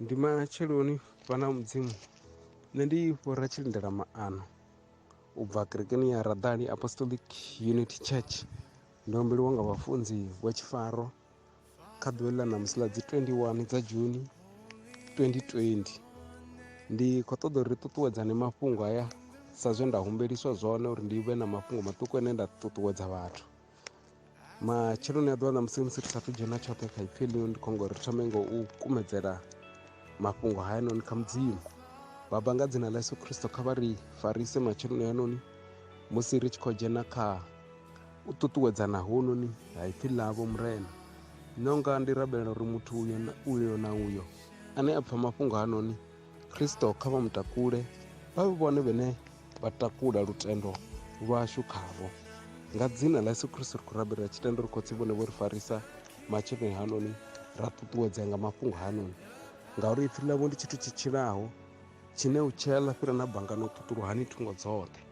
ndi matsheloni vhana mudzimu nṋe ndi fhura tshilindela maano u bva kerekeni ya radali apostolic unity church ndo humbeliwa nga vhafunzi vha tshifaro kha ḓuvha ḽa ṋamusi ḽa dzi 21 dza juni 2020 ndi khou ṱoḓa uri ri ṱuṱuwedzane mafhungo haya sa zwe nda humbeliswa zwone uri ndi vhe na mafhungo maṱuku ane nda ṱuṱuwedza vhathu matsheloni a ḓuvha na musi musi ri sathu dzhena tshoṱhe kha ipfhi ḽino ndi khongo ri thome ngo u kumedzela mafhungo hayanoni kha mudzimu baba nga dzina ḽa yesu khristo kha vha ri farise matsheloni hayanoni musi ri tshi khou dzhena kha u ṱuṱuwedzana hononi ha ipfhi ḽavho murena nonga ndi rabelela uri muthu uyo na uyo na uyo ane a pfha mafhungo hanoni Kristo kha vha mutakule vha vhe vhone vhene vha takula lutendo lwashu khavho nga dzina ḽa yesu kristo ri khou rabela ri tshi tenda uri khotsi vhone vho ri farisa matsheloni hanoni ra ṱuṱuwedzea nga mafhungo hanoni ngauri ipfi ḽavho ndi tshithu tshi tshilaho tshine u tshea ḽa fhira na banga no ṱuṱuluhani thungo dzoṱhe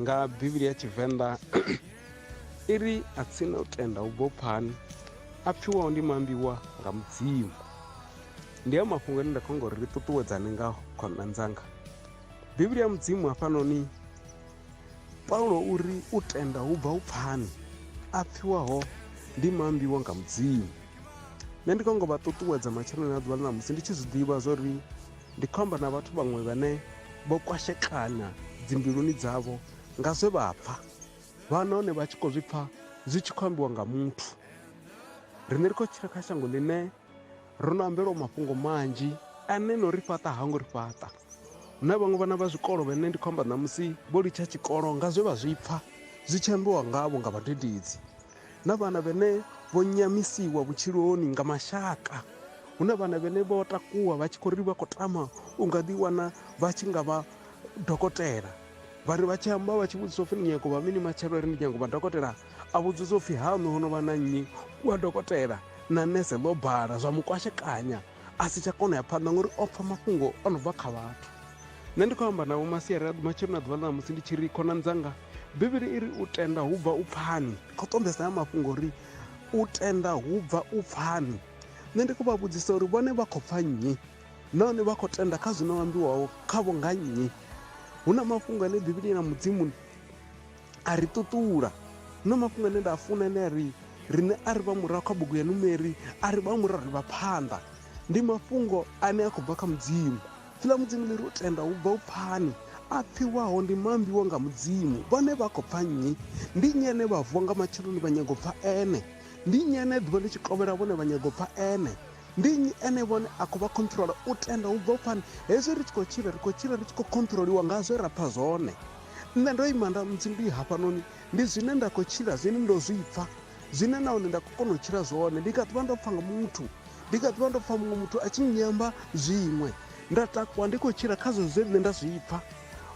nga bivhili ya tshivenḓa i ri a tsina u tenda u bvo phani a pfiwaho ndi mambiwa nga mudzimu ndi a mafhungo ane nda khonga uri ri ṱuṱuwedzane nga khonṋa ndzanga bivhili ya mudzimu hafhanoni paulo uri u tenda hu bva u pfani a pfiwaho ndi mambiwa nga mudzimu nṋe ndi khongo vha ṱuṱuwedza matsheloni a ḓuvha ḽa ṋamusi ndi tshi zwi ḓivha zwa uri Ndi khou amba na vhathu vhaṅwe vhane vho kwashekana dzimbiluni dzavho nga zwe vha pfa, vha nahone vha tshi khou zwi pfa zwi tshi khou ambiwa nga muthu. Riṋe ri khou tshila kha shango ḽine ro no ambelwa mafhungo manzhi ane no ri fhaṱa ha ngo ri fhaṱa. Hu na vhaṅwe vhana vha zwikolo vhane ndi khou amba ṋamusi vho litsha tshikolo nga zwe vha zwi pfa zwi tshi ambiwa ngavho nga vhadededzi. na vhana vhene vho nyamisiwa vhutshiloni nga mashaka hu na vhana vhene vho takuwa vha tshi khou ri vha khou tama u nga ḓiwana vha tshi nga vha dokotela vha ri vha tshi amba vha tshi vhudzisa upfhi ni nyako vha mini matshelo ri ndi nyako vha dokotela a vhudzisa upfhi haṋu ho no vha na nnyi wa dokotela na nese ḽo bala zwa mukwashekanya a si tsha kona ya phanḓa ngori o pfha mafhungo o no bva kha vhathu nṋe ndi khou amba na vho masiari a ḓi matshelo na ḓuvha ḽa musi ndi tshi ri khonani dzanga bivhili i ri u tenda hu bva u pfani khou ṱombesa ya mafhungo ri u tenda hu bva u pfani nṋe ndi khou vha vhudzisa uri vhone vha khou pfa nnyi nahone vha khou tenda kha zwino ambiwaho khavho nga nnyi hu na mafhungo ane bivhili na mudzimu a ri ṱuṱula hu na mafhungo ane nda a funa ane a ri riṋe a ri vha murahu kha bugu ya numeri a ri vha murahu ri vha phanḓa ndi mafhungo ane a khou bva kha mudzimu Ḽa Mudzimu ḽi ri, U tenda hu bva u pfani. A pfiwaho ndi maambiwa nga Mudzimu. Vhone vha khou pfa nnyi? Ndi nnyi ane vha vuwa nga matsheloni vha nyaga u pfa ene? Ndi nnyi ane ḓuvha ḽi tshi kovhela vhone vha nyaga u pfa ene? Ndi nnyi ene vhone a khou vha khonṱhurola? U tenda hu bva u pfani. Hezwi ri tshi khou tshila, ri khou tshila ri tshi khou khonṱhuroliwa nga zwe ra pfa zwone. Nṋe ndo ima nda, Mudzimu ndi hafhanoni, ndi zwine nda khou tshila, zwine ndo zwi pfa. zwine nahone nda khou kona u tshila zwone ndi kha ḓivha ndo pfa nga muthu ndi kha ḓivha ndo pfa muṅwe muthu a tshi nyamba zwiṅwe nda takuwa ndi khou tshila khazwo zwe nṋe nda zwi pfa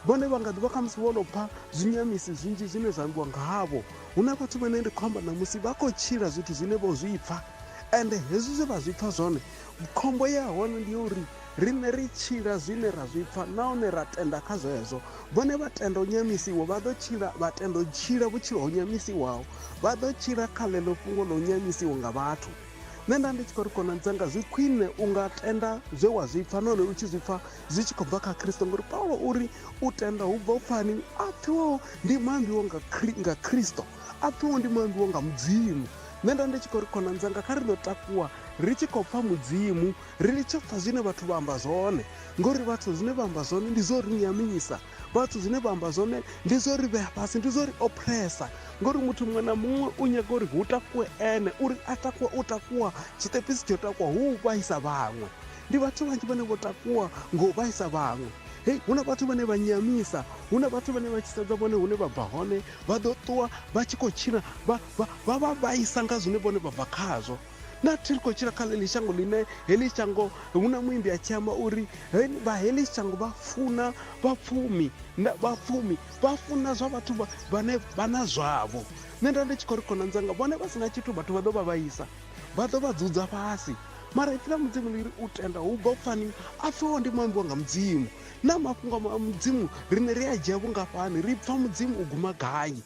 vhone vha nga ḓivha khamusi vho no pfa zwinyamisi zwinzhi zwine zwa ambiwa nga havho hu na vhathu vhane ndi khou amba ṋamusi vha khou tshila zwithu zwine vho zwi pfa ende hezwi zwe vha zwi pfa zwone Khombo ya hone ndi ya uri riṋe ri tshila zwine ra zwi pfa nahone ra tenda kha zwezwo vhone vha tenda u nyamisiwa vha ḓo tshila vha tenda u tshila vhutshilo ho nyamisiwaho vha ḓo tshila kha ḽeḽo fhungo ḽa u nyamisiwa nga vhathu nṋe nda ndi tshi khou ri khonani dzanga zwi khwine u nga tenda zwe wa zwi pfa nahone u tshi zwi pfa zwi tshi khou bva kha khristo ngori paulo uri u tenda hu bva u pfani a pfiwaho ndi maambiwo nga khristo a pfiwaho ndi maambiwo nga mudzimu Nṋe nda ndi tshi khou ri khonani dzanga kha ri ḓo takuwa ri tshi khou pfa mudzimu ri litshe pfa zwine vhathu vha amba zwone ngori vhathu zwine vha amba zwone ndi zwo ri nyamisa vhathu zwine vha amba zwone ndi zwo ri vhea fhasi ndi zwo ri opressa ngori muthu muṅwe na muṅwe u nyaga uri hu takuwe ene uri a takuwa u takuwa tshiṱepisi tsho takuwa hu u vhaisa vhaṅwe ndi vhathu vhanzhi vhane vho takuwa ngo vhaisa vhaṅwe hei hu na vhathu vhane vha nyamisa hu na vhathu vhane vha tshi sedza vhone hune vha bva hone Vha ḓo ṱuwa vha tshi khou tshila vha vha vha vha vhaisa nga zwine vhone vha bva khazwo. Na thi ri khou tshila kha ḽeḽi shango ḽine heḽi shango hu na muimbi a tshi amba uri vha heḽi shango vha funa vhapfumi vhapfumi vha funa zwa vhathu vhane vha na zwavho. Nṋe nda ndi tshi khou ri khonani dzanga vhone vha si na tshithu vhathu vha ḓo vha vhaisa vha ḓo vha dzudza fhasi mara ipfi ḽa mudzimu ḽi ri u tenda hu bva pfani a pfeho ndi muambiwa nga mudzimu Naa mafhungo a Mudzimu riṋe ri a dzhia vhungafhani? Ri pfa Mudzimu u guma gai?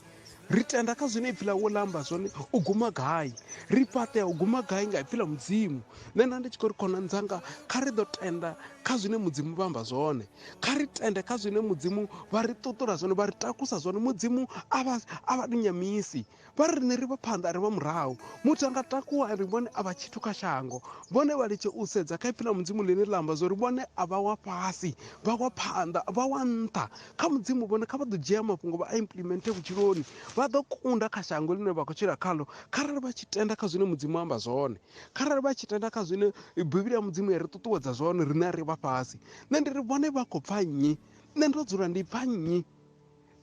Ri tenda kha zwine ipfi ḽawe ḽa amba zwone u guma gai? Ri fhaṱea u guma gai nga ipfi ḽa Mudzimu? Nṋe nda ndi tshi khou ri khonani dzanga, kha ri ḓo tenda kha zwine Mudzimu vha amba zwone. Kha ri tende kha zwine Mudzimu vha ri ṱuṱula zwone, vha ri takusa zwone. Mudzimu a vha a vha tou nyamisi. Vha ri riṋe ri vha phanḓa, ri vha murahu. Muthu a nga takuwa a ri vhone a vha tshithu kha shango. Vhone vha litshe u sedza kha Ipfi ḽa Mudzimu ḽine ḽa amba zwa uri vhone a vha wa fhasi, vha wa phanḓa, vha wa nṱha. Kha Mudzimu vhone kha vha ḓo dzhia mafhungo vha a implimenter vhutshiloni. Vha ḓo kunda kha shango ḽine vha khou tshila khaḽo kharali vha tshi tenda kha zwine Mudzimu a amba zwone. Kharali vha tshi tenda kha zwine Bivhili ya Mudzimu ya ri ṱuṱuwedza zwone, riṋe a ri vha fhasi. Nṋe ndi ri vhone vha khou pfa nnyi? Nṋe ndo dzula ndi pfa nnyi?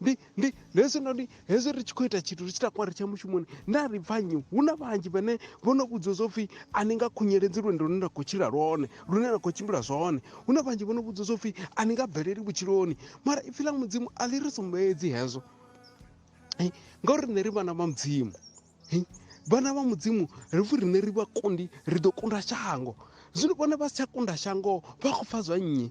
ndi ndi ndi hezwinoni hezwi ri tshi khou ita tshithu ri tshi takuwa ri tsha mushumoni nda ri pfa nnyi hu na vhanzhi vhane vho no vhudzwa zwo pfhi a ni nga khunyeledzi lwendo lune nda khou tshila lwone lune nda khou tshimbila zwone hu na vhanzhi vho no vhudzwa zwo pfhi a ni nga bveleli vhutshiloni mara ipfhi ḽa mudzimu a ḽi ri sumbedzi hezwo ngauri nṋe ri vhana vha mudzimu vhana vha mudzimu ri pfhi riṋe ri vha kundi ri ḓo kunda shango zwino vhone vha si tsha kunda shango vha khou pfha zwa nnyi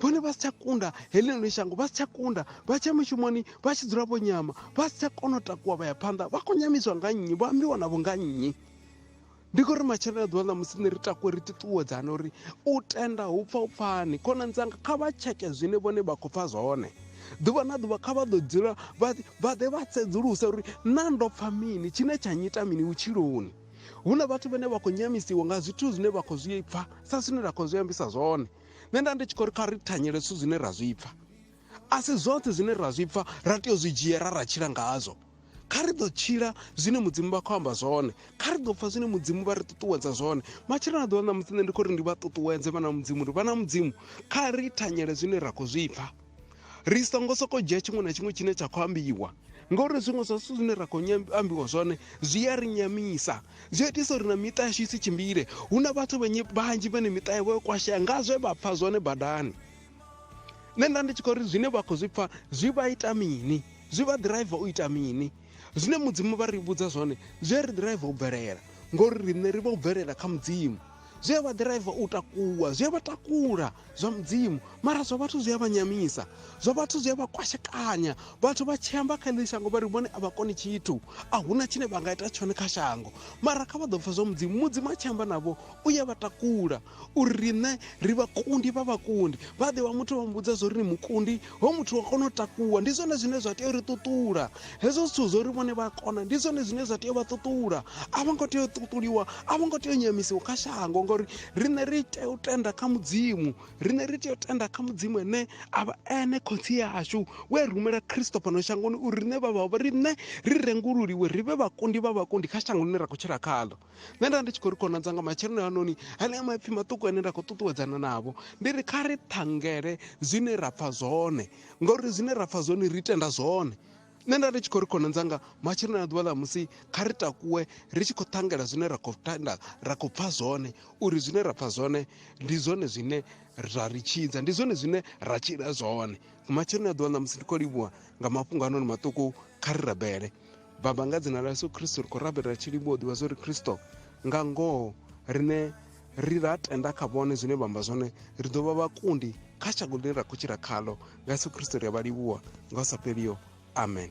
vhone vha si tsha kunda heḽinoni shango vha si tsha kunda vha tsha mushumoni vha tshi dzula vho nyama vha si tsha kona u takuwa vha ya phanḓa vha khou nyamiswa nga nnyi vha ambiwa navho nga nnyi ndi khou ri matshelo a ḓuvha ḽa musi ni ri takwe ri ṱuṱuwedzana uri u tenda hu pfa u pfani khonani dzanga kha vha tsheke zwine vhone vha khou pfa zwone ḓuvha na ḓuvha kha vha ḓo dzula vha ḓe vha sedzulusa uri na ndo pfa mini tshine tsha nyita mini vhutshiloni hu na vhathu vhane vha khou nyamisiwa nga zwithu zwine vha khou zwi pfa sa zwine ra khou zwi ambisa zwone nṋe nda ndi tshi khou ri kha ri thanyele zwithu zwine ra zwi pfa a si zwoṱhe zwine ra zwi pfa ra tea u zwi dzhiela ra tshila ngazwo kha ri ḓo tshila zwine mudzimu vha khou amba zwone kha ri ḓo pfha zwine mudzimu vha ri ṱuṱuwedza zwone matshelo na ḓuvha ṋamusi nṋe ndi khou ri ndi vha ṱuṱuwedze vhana mudzimu uri vhana mudzimu kha ri thanyele zwine ra khou zwi pfha ri songo sokou dzhia tshiṅwe na tshiṅwe tshine tsha khou ambiwa ngauri zwiṅwe zwa zwithu zwine ra khou ambiwa zwone zwi a ri nyamisa zwi itisa uri na miṱa yashu i si tshimbile hu na vhathu vhanzhi vhane miṱa yavho yo kwashea nga zwe vha pfha zwone badani nṋe nda ndi tshi khou ri zwine vha khou zwi pfa zwi vha ita mini zwi vha ḓiraiva u ita mini zwine mudzimu vha ri vhudza zwone zwi a ri ḓiraiva u bvelela ngori riṋe ri vha u bvelela kha mudzimu zwi a vha ḓiraiva u takuwa zwi a vha takula zwa mudzimu mara zwa vhathu zwi a vha nyamisa zwa vhathu zwi a vha kwashekanya vhathu vha tshi amba kha ḽi shango vha ri vhone a vha koni tshithu a huna tshine vha nga ita tshone kha shango mara kha vha ḓo pfa zwa mudzimu mudzimu a tshi amba navho u ya vha takula uri riṋe ri vhakundi vha vhakundi vha ḓe wa muthu vha muvhudza zwo ri ni mukundi ho muthu wa kona u takuwa ndi zwone zwine zwa tea uri ṱuṱula hezwo zwithu zwo ri vhone vha kona ndi zwone zwine zwa tea u vha ṱuṱula a vho ngo tea u ṱuṱuliwa a vho ngo tea u nyamisiwa kha shango ngori riṋe ri tea u tenda kha mudzimu riṋe ri tea u tenda kha mudzimu ene a vha ene khotsi yashu we rumela khristo fhano shangoni uri riṋe vha vha riṋe ri rengululiwe ri vhe vhakundi vha vhakundi kha shango ḽine ra khou tshila khaḽo nṋe nda ndi tshi khou ri khonadza nga matsheloni anoni hanea maipfi maṱuku ane nda khou ṱuṱuwedzana navho ndi ri kha ri ṱhangele zwine ra pfha zwone ngauri zwine ra pfha zwone ri tenda zwone nṋe nda ndi tshi khou ri khonadza nga matsheloni a ḓuvha ḽa musi kha ri takuwe ri tshi khou ṱhangela zwine ra khou tenda ra khou pfha zwone uri zwine ra pfha zwone ndi zwone zwine ra ri tshidza ndi zwone zwine ra tshila zwone matsheloni a ḓuvha ḽa musi ndi khou livhuwa nga mafhungo anoni maṱuku kha ri rabele Baba, nga dzina ḽa Yesu Kristo ri khou rabela tshi livhuwa u ḓivha zwo ri Kristo nga ngoho rine ri ra tenda kha vhone zwine vha amba zwone ri ḓo vha vhakundi kha shango ḽine ra khou tshila khaḽo nga yesu kristo ri a vha livhuwa nga u sa fheliho amen